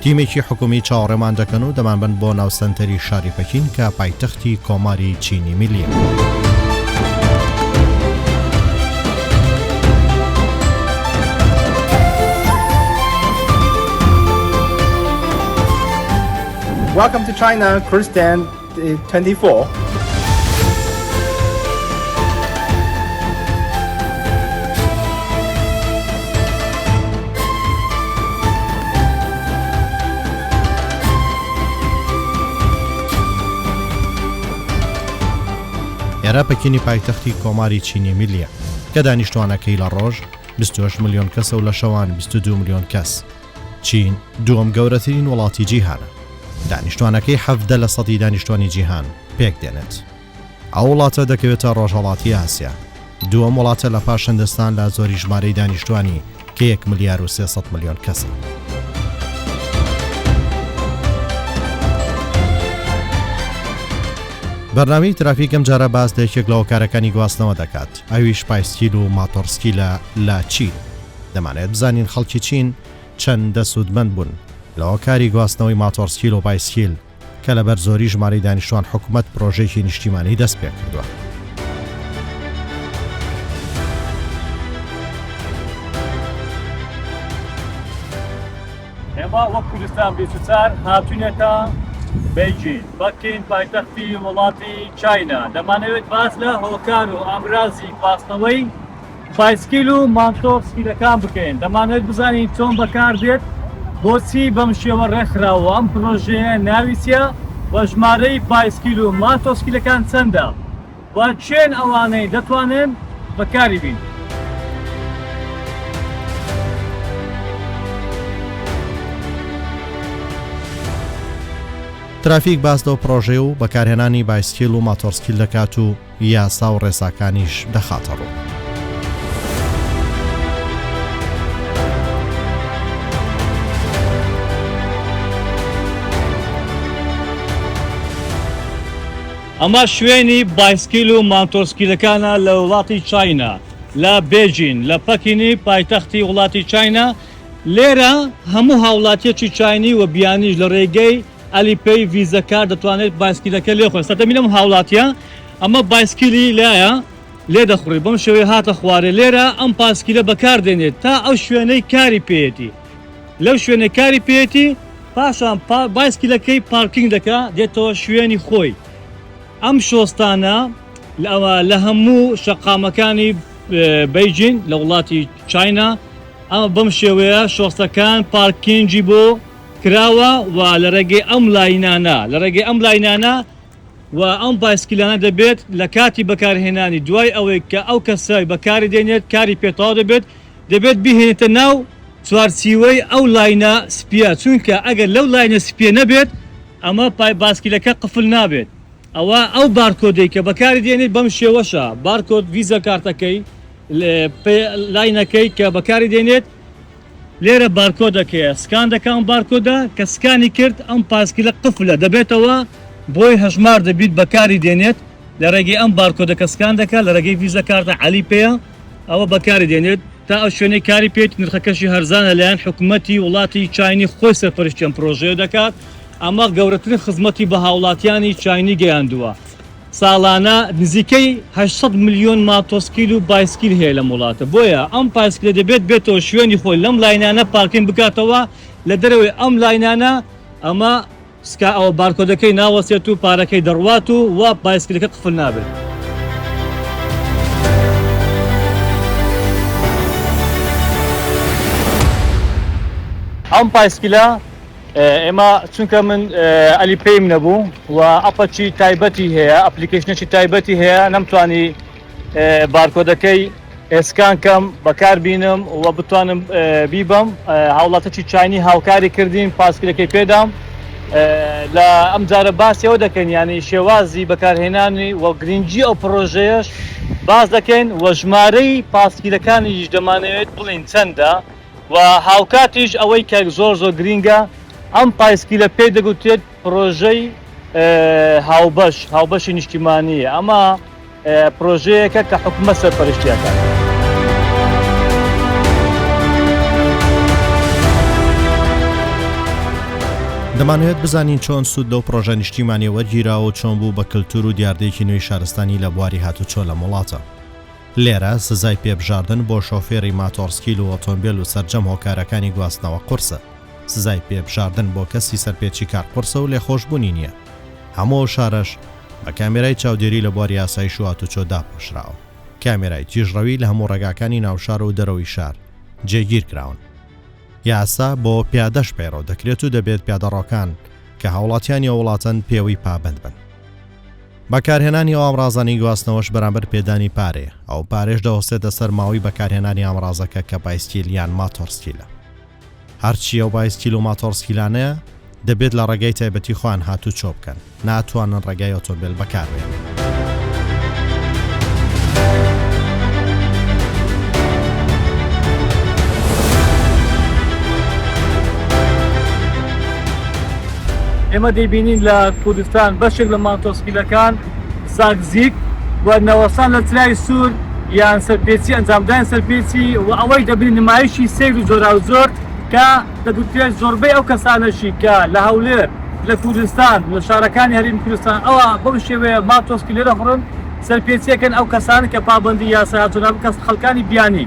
تیمێکی حکومی چاوەڕێمان دەکەن و دەمانبەن بۆ ناو سەنتەری شاری پەکین کە پایتەختی کۆماری چینی میللیە. 24. ئێرە پەکینی پایتەختی کۆماری چینی میلیە کە دانیشتوانەکەی لە ڕۆژ 28 ملیۆن کەسە و لە شەوان 22 ملیۆن کەس چین دووەم گەورەترین وڵاتی جیهانە، دانیشتوانەکەی حەڤدە لە سەدی دانیشتوانی جیهان پێک دێنێت. ئەو وڵاتە دەکەوێتە ڕۆژهەڵاتی ئاسیا. دووەم وڵاتە لە پاش هندستان لە زۆری ژمارەی دانیشتوانی کە یەک ملیار و سێ سەد ملیۆن کەسە. بەرنامەی ترافیک ئەم جارە باس لە یەکێک لە هۆکارەکانی گواستنەوە دەکات ئەویش پایسکیل و ماتۆڕسکیلە لە چین دەمانەوێت بزانین خەڵکی چین چەندە سوودمەند بوون لە هۆکاری گواستنەوەی ماتۆڕسکیل و بایسکیل کە لەبەر زۆری ژمارەی دانیشتوان حکومەت پرۆژەیەکی نیشتیمانی دەست پێ کردووە. ئێمە وەک کوردستان 24 هاتوینەتە بەیجین بەکین پایتەختی وڵاتی چاینا دەمانەوێت باس لە هۆکار و ئامرازی گواستنەوەی پایسکیل و مانتۆ سپییەکان بکەین، دەمانەوێت بزانین چۆن بەکاردێت، بۆچی بەم شێوە ڕێکخراوە و ئەم پرۆژەیە ناوی چییە و ژمارەی پایسکیل و مانتۆ سپییەکان چەندە و کێن ئەوانەی دەتوانن بەکاری بین. ترافیک باس لەو پرۆژەی و بەکارهێنانی بایسکیل و ماتۆڕسکیل دەکات و یاسا و ڕێساکانیش دەخاتە ڕوو. ئەمە شوێنی بایسکیل و مانتۆسکیلەکانە لە وڵاتی چاینا لە بێجین لە پەکینی پایتەختی وڵاتی چاینا لێرە هەموو هاوڵاتیەکی چاینی و بیانیش لە ڕێگەی ئەلی پەی ڤیزە کارت دەتوانێت بایسکیلەکە لێ خۆێ سەردەمی لەم هاوڵاتیە ئەمە بایسکیلی لایە لێ دەخڕی بەم شێوەی هاتە خوارێ لێرە ئەم پاسکیلە بەکار دێنێت تا ئەو شوێنەی کاری پێیەتی لەو شوێنەی کاری پێیەتی پاشان بایسکیلەکەی پارکینگ دەکا دێتەوە شوێنی خۆی ئەم شۆستانە لە هەموو شەقامەکانی بەیجین لە وڵاتی چاینا ئەمە بەم شێوەیە شۆستەکان پارکینجی بۆ کراوە و لە ڕێگەی ئەم لاینانە لە ڕێگەی ئەم لاینانە و ئەم پایسکیلانە دەبێت لە کاتی بەکارهێنانی دوای ئەوەی کە ئەو کەسەی بەکاری دێنێت کاری پێ تەواو دەبێت دەبێت بیهێنێتە ناو چوارچیوەی ئەو لاینە سپیە چونکە ئەگەر لەو لاینە سپیە نەبێت ئەمە پای باسکیلەکە قفل نابێت ئەوا ئەو بارکۆدەی کە بەکاری دێنێت بەم شێوەشە بارکۆد ڤیزە کارتەکەی لاینەکەی کە بەکاری دێنێت لێرە بارکۆدەک هەیە سکان دەکا ئەم بارکۆدە کە سکانی کرد ئەم پاسکیلە قفلە دەبێتەوە بۆی هەژمار دەبیت بەکاری دێنێت لە رێگەی ئەم بارکۆدە کە سکان دەکا لە رێگەی ڤیزە کارتە عەلی پێیە ئەوە بەکاری دێنێت تا ئەو شوێنەی کاری پێیت نرخەکەشی هەرزانە لەلایەن حکومەتی وڵاتی چاینی خۆی سەرپەرشتی ئەم پرۆژەیە دەکات ئەمە گەورەترین خزمەتی بە هاوڵاتیانی چاینی گەیاندووە. ساڵانە نزیکەی هەشت سەد ملیۆن ماتۆسکیل و بایسکیل هەیە لەم وڵاتە، بۆیە ئەم پایسکلە دەبێت بێتەوە شوێنی خۆی لەم لاینانە پارکینگ بکاتەوە لە دەرەوەی ئەم لاینانە ئەمە سکا ئەوە بارکۆدەکەی ناوەستێت و پارەکەی دەڕوات و وا بایسکلەکە قفل نابێت. ئەم پایسکلە. ئێمە چونکە من ئەلی پێیم نەبوو و ئەپەچی تایبەتی هەیە ئەپلیکیشنێکی تایبەتی هەیە نەمتوانی بارکۆدەکەی ئێسکان کەم بەکار بینم و بتوانم بیبم هاوڵاتەکی چاینی هاوکاری کردین پاسکرەکەی پێدام لە ئەم جارە باسیەوە دەکەن ینی شێوازی بەکارهێنانی و گرنگجی ئەو پرۆژەیەش باز دەکەین و ژمارەی پاسکیلەکانیش دەمانەوێت بڵین چەندە و هاوکاتیش ئەوەی کە زۆر زۆر گرینگە ئەم پایسکیلە پێی دەگوترێت پرۆژەی هاوبەش، هاوبەشی نیشتیمانییە، ئەمە پرۆژەیەکە کە حکومەت سەرپەرشتی ئەکات. دەمانەوێت بزانین چۆن سوود لەو پرۆژە نیشتیمانیە وەرگیراوە و چۆن بوو بە کللتور و دیاردەیەکی نوێی شارستانی لە بواری هاتوچۆ لەم وڵاتە. لێرە سزای پێبژاردن بۆ شۆفێری ماتۆڕسکیل و ئۆتۆمبێل و سەرجەم هۆکارەکانی گواستنەوە قورسە. سزای پێبژاردن بۆ کەسی سەرپێچیکار قورسە و لێخۆشبوونی نییە. هەموو ئەو شارەش بە کامێرای چاودێری لە بواری ئاسایش و هاتوچۆ داپۆشراوە. کامێرای تیژڕەوی لە هەموو ڕێگاکانی ناوشار و دەرەوەی شار جێگیر کراون. یاسا بۆ پیادەش پەیڕەو دەکرێت و دەبێت پیادەڕۆکان کە هاوڵاتیانی ئەو وڵاتەن پێوەی پابەند بن. بەکارهێنانی ئەو ئامڕازانەی گواستنەوەش بەرامبەر پێدانی پارەیە، ئەو پارەیش دەوەستێتە سەر ماوەی بەکارهێنانی ئامڕازەکە کە بایسکیل یان ماتۆڕسکیلە. هەرچی ئەو بایسکیل و ماتۆڕسکیلانەیە دەبێت لە ڕێگای تایبەتی خۆیان هاتووچۆ بکەن، ناتوانن ڕێگای ئۆتۆمبێل بەکاربێنن. ئێمە دەیبینین لە کوردستان بەشێک لە مانتۆسکیلەکان، زاگزیک، و نەوەستان لە چرای سوور یان سەرپێچی ئەنجامداین سەرپێچی و ئەوەش دەبنە نمایشی سەیر و جۆراوجۆر کە دەگوترێت زۆربەی ئەو کەسانەشی کە لە هەولێر لە کوردستان لە شارەکانی هەرێمی کوردستان ئەوا بەو شێوەیە ماتۆسکیلە دەخورن سەرپێچیەکەن ئەو کەسانە کە پابەندی یاسای هاتوونە بکەن خەڵکانی بیانی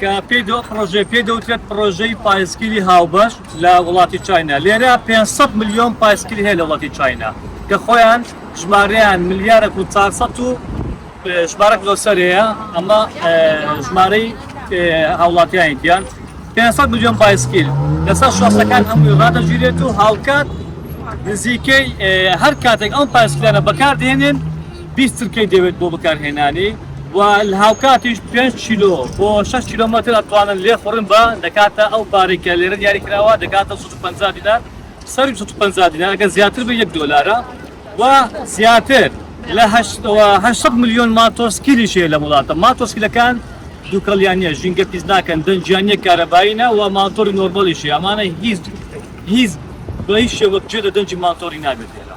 کە پێی دەوت پڕۆژەی پێی دەوترێت پڕۆژەی پایسکیلی هاوبەش لە وڵاتی چاینا لێرە 500 ملیۆن پایسکیل هەیە لە وڵاتی چاینا کە خۆیان ژمارەیان ملیارێک و 400 و ژمارەک لۆسەر هەیە ئەمە ژمارەی هاوڵاتیانی دیان 500 ملیۆن پایسکیل لەسەر شۆسەکان هەمووی ڕادەگیرێت و هاوکات نزیکەی هەر کاتێک ئەم پایسکیلانە بەکاردێنێن بیست چرکەی دەوێت بۆ بەکارهێنانی و هاوکاتیش پێنج کیلۆ بۆ شەش کیلۆمەتر ئەتوانن لێخوڕن بە دەکاتە ئەو پارەی کە لێرە دیاری کراوە دەکاتە سەد و پەنجا دینار سەروی سەد و پەنجا دینار ئەگەر زیاتر بە یەک دۆلارە و زیاتر لە هەشت و هەشت سەد ملیۆن ماتۆسکیلیش هەیە لەم وڵاتە ماتۆسکیلەکان دووکەڵیان نییە ژینگە پیس ناکەن دەنگیان نییە کارەبایینە و ماتۆری نۆرمالیشی ئەمانە هیچ هیچ بە هیچ شێوەک جێ لە دەنگی ماتۆری نابێت لێرە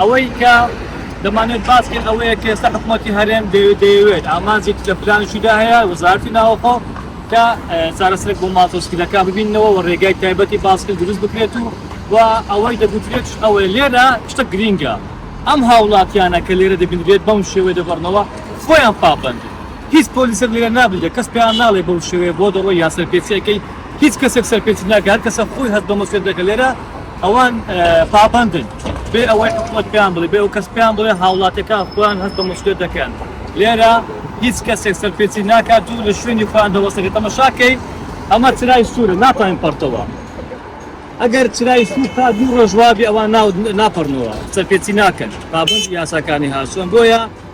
ئەوەی کە دەمانەوێت باس بکەین ئەوەیە کە ئێستا حکوومەتی هەرێم دەوێت دەیەوێت ئامانجی لە پلانشیدا هەیە وەزارتی ناوەخۆ کە چارەسەرێک بۆ ماتۆسکیلەکە ببینەوە و ڕێگای تایبەتی باسکرد دروست بکرێت و و ئەوەی دەگوترێت ئەوەیە لێرە شتە گرینگە ئەم هاوڵاتیانە کە لێرە دەبینرێت بەم شێوەی دەگەڕنەوە خۆیان پابەندن هیچ پۆلیسێک لێرە نابدە کەس پێیان ناڵێ بەو شێوەیە بۆ دەڕۆ یا سەرپێچیەکەی هیچ کەسێک سەرپێچی ناکات کەسە خۆی هەست بە مەسێت دەکە لێرە ئەوان پابەندن بێ ئەوەی حکومەت پێیان بڵێ، بێ ئەو کەس پێیان بڵێ هاوڵاتیەکان خۆیان هەست بە موسڵیەت دەکەن، لێرە هیچ کەسێک سەرپێچی ناکات و لە شوێنی خۆیان دەوەستێنن، تەمەشاکەی. ئەمە چرای سوورە ناتوانین پەڕتەوە ئەگەر چرای سوور تا دوو ڕۆژ وابێ ئەوان ناپەڕنەوە سەرپێچی ناکەن پابەندی یاساکانی هاتوون بۆیە.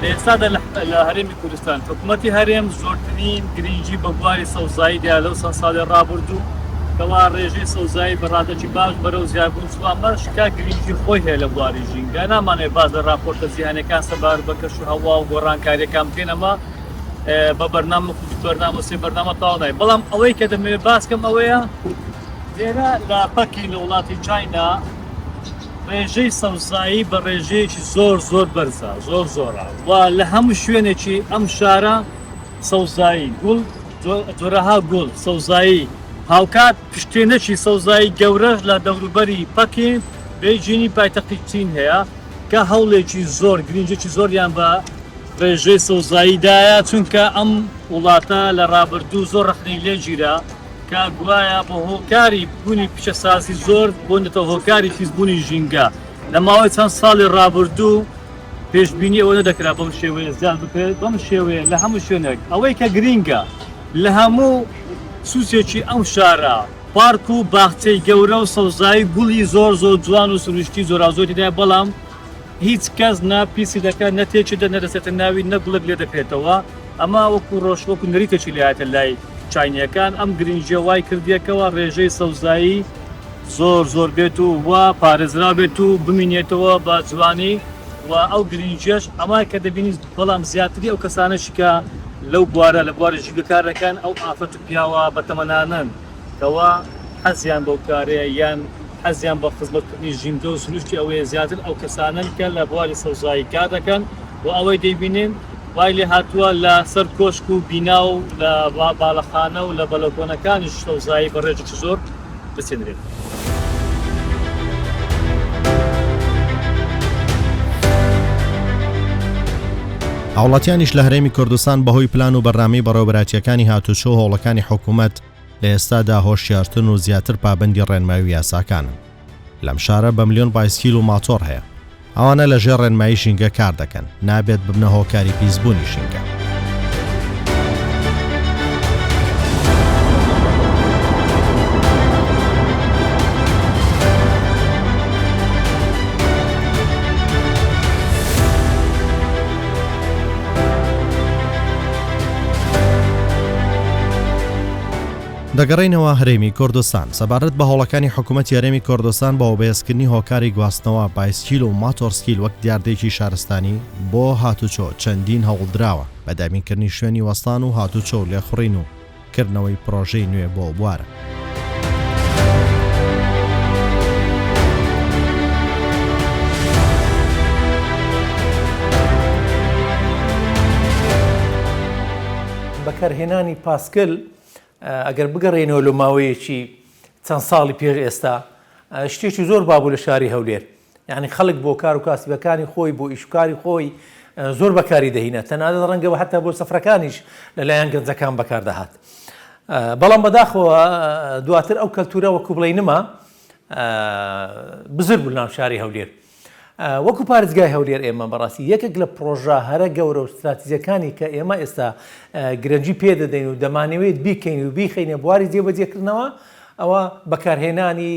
لە ئێستادا لە هەرێمی کوردستان حکومەتی هەرێم زۆرترین گرنگی بە بواری سەوزایی دا لەو چەند ساڵی ڕابردوو کەوا ڕێژەی سەوزایی بە ڕادەکی باش بەرەو زیادبوون چووە، ئەمەش کە گرنگی خۆی هەیە لە بواری ژینگە نامانەوێت باس لە ڕاپۆرتە جیهانییەکان سەبارەت بە کەشوهەوا و گۆڕانکارییەکان بکەین ئەمە بە بەرنامە وەکو دوو بەرنامە سێ بەرنامە تەواو نابێت بەڵام ئەوەی کە دەمەوێت باس بکەم ئەوەیە لێرە لە پەکین لە وڵاتی چاینا ڕێژەی سەوزایی بە ڕێژەیەکی زۆر زۆر بەرزە زۆر زۆرە و لە هەموو شوێنێکی ئەم شارە سەوزایی گوڵ جۆرەها گوڵ سەوزایی هاوکات پشتێنەکی سەوزایی گەورەش لە دەوروبەری پەکین بێجینی پایتەختی چین هەیە کە هەوڵێکی زۆر گرنگێکی زۆریان بە ڕێژەی سەوزاییدایە چونکە ئەم وڵاتە لە ڕابردوو زۆر ڕەخنەی لێگیرا کە گوایە بە هۆکاری بوونی پیشەسازی زۆر بوونەتە هۆکاری پیسبوونی ژینگە لە ماوەی چەند ساڵی ڕابردوو پێشبینی ئەوە نەدەکرا بەم شێوەیە زیاد بکرێت بەم شێوەیە لە هەموو شوێنێک ئەوەی کە گرینگە لە هەموو سوچێکی ئەم شارە پارک و باخچەی گەورە و سەوزایی گوڵی زۆر زۆر جوان و سروشتی زۆرازۆریدا بەڵام هیچ کەس نە پیسی دەکات نە تێکی دە نەدەسێتە ناوی نە گوڵک لێ دەکرێتەوە ئەمە وەکو ڕۆژ وەکو نەریتێکی لایەتە لای چاینیەکان ئەم گرنگیە وای کردیەکەوە ڕێژەی سەوزایی زۆر زۆر بێت و وا پارێزرا بێت و بمینێتەوە بە جوانی و ئەو گرنگیش ئەمای کە دەبینیت بەڵام زیاتری ئەو کەسانەشی کە لەو بوارە لە بواری ژیگەکار دەکەن ئەو ئافرەت و پیاوە بەتەمەنانن کەوا حەزیان بەو کارەیە یان حەزیان بە خزمەتکردنی ژینگە و سروشتی ئەوەیە زیاتر ئەو کەسانەن کە لە بواری سەوزایی کار دەکەن و ئەوەی دەیبینین وای لێ هاتووە لە سەر کۆشک و بینا و لە باڵەخانە و لە بەلەکۆنەکانیش سەوزایی بە ڕێژێکی زۆر بچێنرێت. هاوڵاتیانیش لە هەرێمی کوردستان بەهۆی پلان و بەرنامەی بەڕێوەبەرایەتییەکانی هاتووچۆ و هەوڵەکانی حکوومەت لە ئێستادا هۆشیارترن و زیاتر پابەندی ڕێنمایی و یاساکانن. لەم شارە بە ملیۆن بایسکیل و ماتۆڕ هەیە. ئەوانە لە ژێر ڕێنمایی ژینگە کار دەکەن، نابێت ببنە هۆکاری پیسبوونی ژینگە. دەگەڕێینەوە هەرێمی کوردستان سەبارەت بە هەوڵەکانی حکوومەت یارێمی کوردستان بە وبەێزکردنی هۆکاری گواستنەوە بایسکیل و ماتۆرسکیل وەک دیاردێکی شارستانی بۆ هاتوچۆ چەندین هەوڵدراوە بە دابینکردنی شوێنی وەستان و هاتوچۆ و لێخوڕین و کردنەوەی پڕۆژەی نوێ بۆ بوارە بەکارهێنانی پاسکل ئەگەر بگەڕێنەوە لە ماوەیەکی چەند ساڵی پێش ئێستا شتێکی زۆر بابوو لە شاری هەولێر یانی خەڵک بۆ کار و کاسبەکانی خۆی، بۆ ئیش و کاری خۆی زۆر بەکاری دەهینا، تەنانەت ڕەنگە هەتا بۆ سەفرەکانیش لە لایەن گەنجەکان بەکار دەهات. بەڵام بەداخەوە دواتر ئەو کەلتوورە وەکوو بڵێی نما، بزر بوو لەناو شاری هەولێر. وەکوو پارێزگای هەولێر ئێمە بەڕاستی یەکێک لە پڕۆژە هەرە گەورە و ستراتیجەکانی کە ئێمە ئێستا گرەنگی پێ دەدەین و دەمانەوێت بیکەین و بیخەینە بواری جێبەجێکردنەوە، ئەوە بەکارهێنانی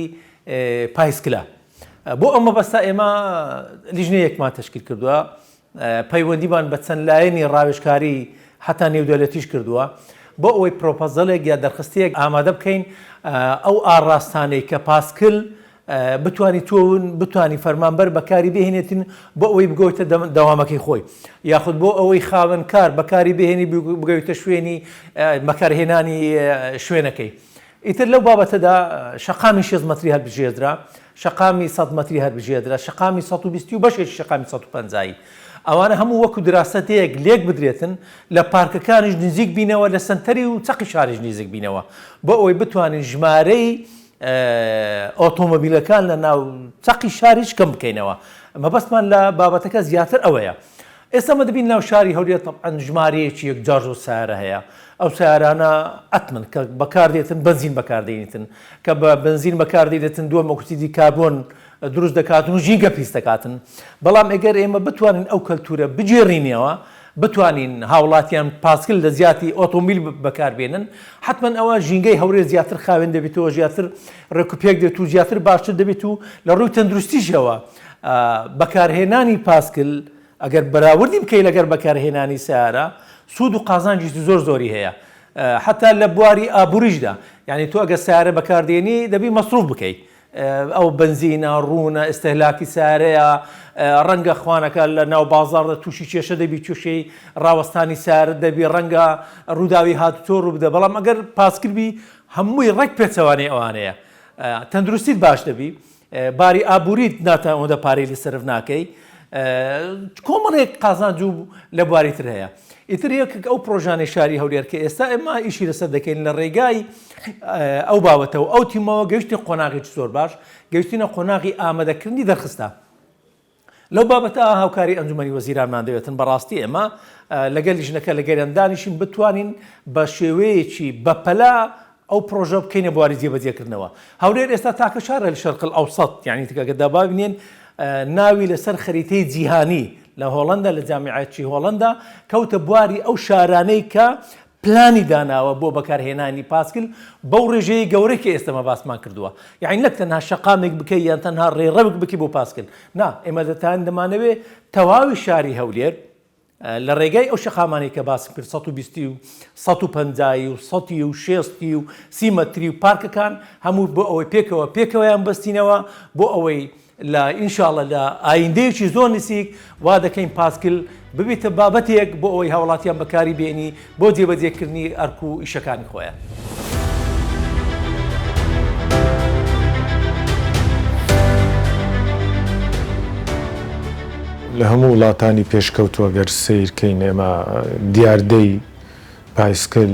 پایسکلە. بۆ ئەو مەبەستە ئێمە لیژنەیەکمان تەشکیل کردووە، پەیوەندیمان بە چەند لایەنی ڕاوێژکاری هەتا نێودەولەتیش کردووە، بۆ ئەوەی پرۆپۆزەلێک یا دەرخستەیەک ئامادە بکەین ئەو ئاڕاستانەی کە پاسکل بتوانیتون بتوانی فەرمانبەر بەکاری بهێنێتین بۆ ئەوەی بگۆیتە دەوامەکەی خۆی یاخود بۆ ئەوەی خاوەنکار بەکاری بهێنی بگەویتە شوێنی بەکارهێنانی شوێنەکەی ئیتر لەو بابەتەدا شەقامی شێست مەتری هەلبژێردرا، شەقامی سەد مەتری هەلبژێردرا، شەقامی سەد و بیستی و بەشێکی شەقامی سەد و پەنجایی. ئەوانە هەموو وەکو دراسەتێک لێک بدرێتن، لە پارکەکانیش نزیک بینەوە، لە سەنتەری و چەقی شاریش نیزک بینەوە، بۆ ئەوەی بتوانین ژمارەی ئۆتۆمۆبیلەکان لە ناو چەقی شاریش کەم بکەینەوە. مەبەستمان لە بابەتەکە زیاتر ئەوەیە. ئێستا ئمە دەبین ناو شاری هەولێر تەبعەن ژمارەیەکی یەکجار زۆر سەیارە هەیە ئەو سەیارانە ئەتمن کە بەکاردێتن بەنزین بەکاردێنیتن کە بە بەنزین بەکاردێتن دووە مەکسیدی کاربۆن دروست دەکاتن و ژینگە پیس دەکاتن بەڵام ئەگەر ئێمە بتوانین ئەو کەلتورە بگێڕینەوە بتوانین هاوڵاتیان پاسکل لە زیاتی ئۆتۆمیل بەکاربێنن حتمما ئەوە ژینگەی هەورێ زیاتر خاوێن دەبێتەوە زیاتر ڕێکوپێک دێت و زیاتر باشتر دەبێت و لە ڕووی تەندروستیشەوە بەکارهێنانی پاسکل ئەگەر بەراوردی بکەی لەگەر بەکارهێنانی سیارە سوود و قازانجی زۆر زۆری هەیە حتا لە بواری ئابووریشدا یعنی تۆ ئەگە سیارە بەکاردێنی دەبی مەسروف بکەیت ئەو بنزینە ڕوونە ئستهلاکی سارەیە ڕەنگە خوانەکە لە ناو بازاردا تووشی کێشە دەبی کێشەی ڕاوەستانی سار دەبی ڕەنگە ڕووداوی هات تۆ ڕوو بدە بەڵام ئەگەر پاسکردبی هەمووی ڕێک پێچەوانەی ئەوانەیە تەندروستیت باش دەبی باری ئابوریت ناتە ئەوەندە پارەی لە سەرف ناکەی کۆمەڵێک قازانج و لە بواری تر هەیە ئیتر یەکێک ئەو پرۆژانەی شاری هەولێر کە ئێستا ئێمە ئیشی لەسەر دەکەین لە ڕێگای ئەو باوەتەوە ئەو تیمەوە گەشتی قۆناغێکی زۆر باش گەشتینە قۆناغی ئامادەکردنی دەرخستە لەو بابەتە هاوکاری ئەنجومەنی وەزیرانمان دەوێتن، بەڕاستی ئێمە لەگەل لیژنەکە لە گەریان دانیشین بتوانین بە شێوەیەکی بەپەلە ئەو پرۆژە بکەینە بواری جێبەجێکردنەوە. هەولێر ئێستا تاکە شارە لە شەرق الاوسط، یانی تکەکە دابابنێن ناوی لەسەر خەریتەی جیهانی لە هۆڵەندا لە جامیعەتی هۆڵەندا کەوتە بواری ئەو شارانەی کە پلانی داناوە بۆ بەکارهێنانی پاسکل بەو ڕێژەیە گەورەی کە ئێستە مە باسمان کردووە یانی نەک تەنها شەقامێک بکەی یان تەنها ڕێڕەوک بکی بۆ پاسکل نا ئێمە دەتان دەمانەوێ تەواوی شاری هەولێر لە ڕێگای ئەو شەقامانەی کە باسم کرد 120 و 150 و 100 و 60 و سیمەتری و پارکەکان هەموو بۆ ئەوەی پێکەوە پێکەوەیان بەستینەوە بۆ ئەوەی لە ان شاء اللە لە ئایندەیەکی زۆر نسیک وا دەکەین پاسکیل ببیتە بابەتێک بۆ ئەوەی هاوڵاتیان بەکاری بێنی بۆ جێبەجێ کردنی ئەرک و ئیشەکانی خۆیان. لە هەموو وڵاتانی پێشکەوتوو گەر سەیر کەین ئێمە دیاردەی پایسکل،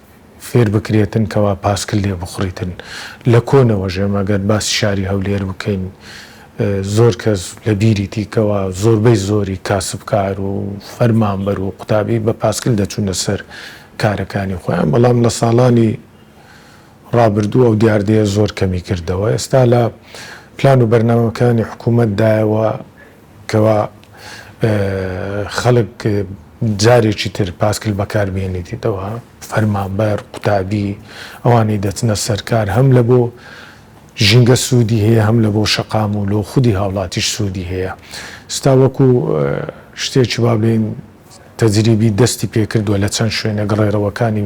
فێر بکرێتن کەوا پاسکل لێ بخوڕیتن لە کۆنەوە ژێمە گەر باسی شاری هەولێر بکەین زۆر کەس لە بیریتی کەوا زۆربەی زۆری کاسبکار و فەرمانبەر و قوتابی بە پاسکل دەچوونە سەر کارەکانی خۆیان بەڵام لە ساڵانی ڕابردوو ئەو دیاردەیە زۆر کەمی کردەوە ئێستا لە پلان و بەرنامەکانی حکوومەت دایە و کەوا خەڵک جارێکی تر پاسکیل بەکار بهێنێتیتەوە، فەرمانبەر، قوتابی، ئەوانەی دەچنە سەر کار هەم لە بۆ ژینگە سوودی هەیە هەم لە بۆ شەقام و لۆ خودی هاوڵاتیش سوودی هەیە. ستا وەکو شتێکی وا بڵێین تەجریبی دەستی پێکردووە لە چەند شوێنێک ڕێڕەوەکانی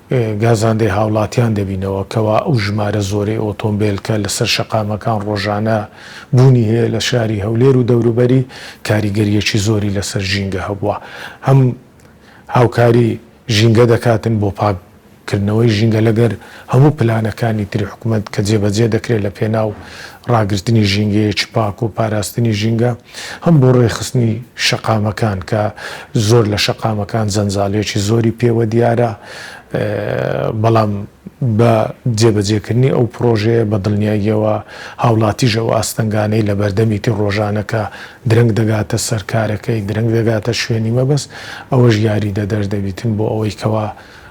گازاندەی هاوڵاتیان دەبینەوە کەوا ئەو ژمارە زۆرەی ئۆتۆمبێل کە لەسەر شەقامەکان ڕۆژانە بوونی هەیە لە شاری هەولێر و دەوروبەری کاریگەریەکی زۆری لەسەر ژینگە هەبووە هەم هاوکاری ژینگە دەکاتن بۆ پاک کردنەوەی ژینگە لەگەر هەموو پلانەکانی تری حکومەت کە جێبەجێ دەکرێت لە پێناو ڕاگرتنی ژینگەیەکی پاک و پاراستنی ژینگە. هەم بۆ ڕێکخستنی شەقامەکان کە زۆر لە شەقامەکان جەنجاڵیەکی زۆری پێوە دیارە بەڵام بە جێبەجێکردنی ئەو پڕۆژەیە بە دڵنیاییەوە هاوڵاتیش ئەو ئاستەنگانەی لە بەردەمیتی ڕۆژانە کە درەنگ دەگاتە سەر کارەکەی درەنگ دەگاتە شوێنی مەبەست ئەوەش یاریدەدەر دەبیتن بۆ ئەوەی کەوا